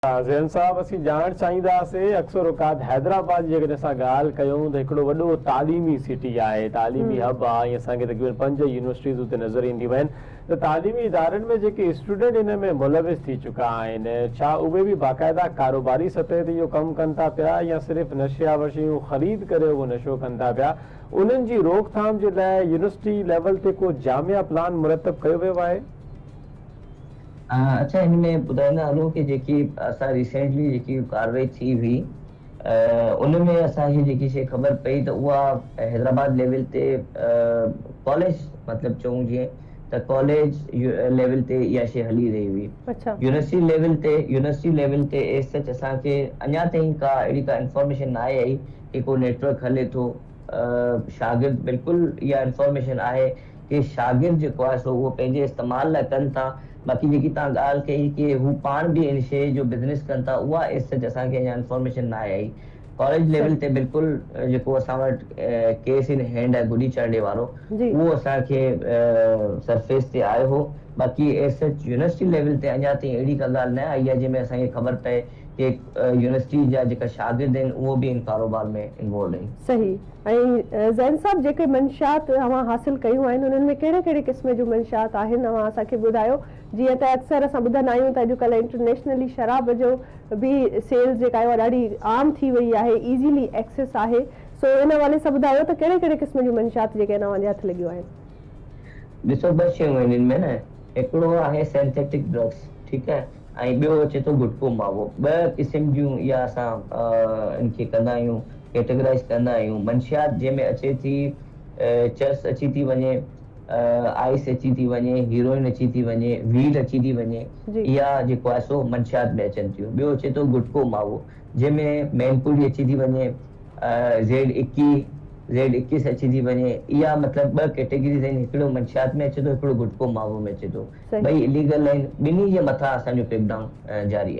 ذهن صاحب اسين ڄاڻڻ چاهينداسين اڪثر اوقات حيدرآباد جي جيڪڏهن اسان ڳالهه ڪيون ته هڪڙو وڏو تعليمي سٽي آهي تعليمي هب آهي ۽ اسان کي تقريبن پنج يونيورسٽيز اتي نظر اينديون آهن ته تعليمي ادارن ۾ جيڪي اسٽوڊنٽ ان ۾ ملوث ٿي چڪا آهن ڇا اهي به باقاعده ڪاروباري سطح تي اهو ڪم ڪن ٿا پيا يا صرف نشي آور شيون خريد ڪري اهو نشو ڪن ٿا پيا انهن جي روڪ ٿام جي لاء يونيورسٽي ليول تي ڪو جامع پلان مرتب ڪيو ويو آهي؟ اچا هن ۾ ٻڌائيندا هلون ڪي جيڪي اسان ريسينٽلي جيڪي ڪاروائي ٿي هئي ان ۾ اسان کي جيڪي شئي خبر پئي ته اها حيدرآباد ليول تي ڪاليج مطلب چئون جيئن ته ڪاليج ليول تي اها شئي هلي رهي هئي يونيورسٽي ليول تي يونيورسٽي ليول تي ايز سچ اسان کي اڃا تائين ڪا اهڙي ڪا انفارميشن ناهي آئي ڪي ڪو نيٽورڪ هلي ٿو شاگرد بلڪل اها انفارميشن آهي ڪي شاگرد جيڪو آهي سو اهو پنهنجي استعمال لاء ڪن ٿا باقي جيڪي توهان ڳالهه ڪئي ڪي هو پاڻ به ان شيء جو بزنس ڪن ٿا اها ايز سچ اسان کي اڃا انفارميشن ناهي آئي ڪاليج ليول تي بلڪل جيڪو اسان وٽ ڪيس ان هينڊ آهي گڊي چرنڊي وارو اهو اسان کي سرفيس تي آيو هو باقي ايز سچ يونيورسٽي ليول تي اڃا تائين اهڙي ڪا ڳالهه نه آئي آهي جنهن ۾ اسان کي خبر پئي ڪي يونيورسٽي جا جيڪا شاگرد آهن اهو به ان ڪاروبار ۾ انوالوڊ آهن. صحيح. ۽ زين صاحب جيڪي منشيات اوهان حاصل ڪيون آهن انهن ۾ ڪهڙي ڪهڙي قسم جون منشيات آهن اوهان اسان کي ٻڌايو جيئن ته اڪثر اسان ٻڌندا آهيون ته اڄڪلهه انٽرنيشنلي شراب جو به سيلز جيڪا آهي اها ڏاڍي عام ٿي وئي آهي ايزيلي ايڪسيس آهي سو ان حوالي سان ٻڌايو ته ڪهڙي ڪهڙي قسم جون منشيات جيڪي آهن اوهان جي هٿ لڳيون آهن. ڏسو ٻه شيون آهن ان ۾ نه هڪڙو آهي سينٿيٽڪ ڊرگس ٺيڪ آهي ۽ ٻيو اچي ٿو گٽڪو ماوو. ٻه قسم جون اها اسان ان کي ڪندا آهيون ڪيٽيگرائيز ڪندا آهيون منشيات جنهن ۾ اچي ٿي چرس اچي ٿي وڃي، آئيس اچي ٿي وڃي، هيروئن اچي ٿي وڃي، ويڊ اچي ٿي وڃي اها جيڪو آهي سو منشيات ۾ اچن ٿيون. ٻيو اچي ٿو گٽڪو ماوو. جنهن ۾ مين پوري اچي ٿي وڃي، زيڊ اڪي، زيڊ اڪيس اچي ٿي وڃي، اها مطلب ٻه ڪيٽيگريز آهن، هڪڙو منشيات ۾ اچي ٿو، هڪڙو گٽڪو ماوو ۾ اچي ٿو، ٻئي اليگل آهن، ٻنهي جي مٿان اسان جو ڪريڪ ڊائون جاري آهي.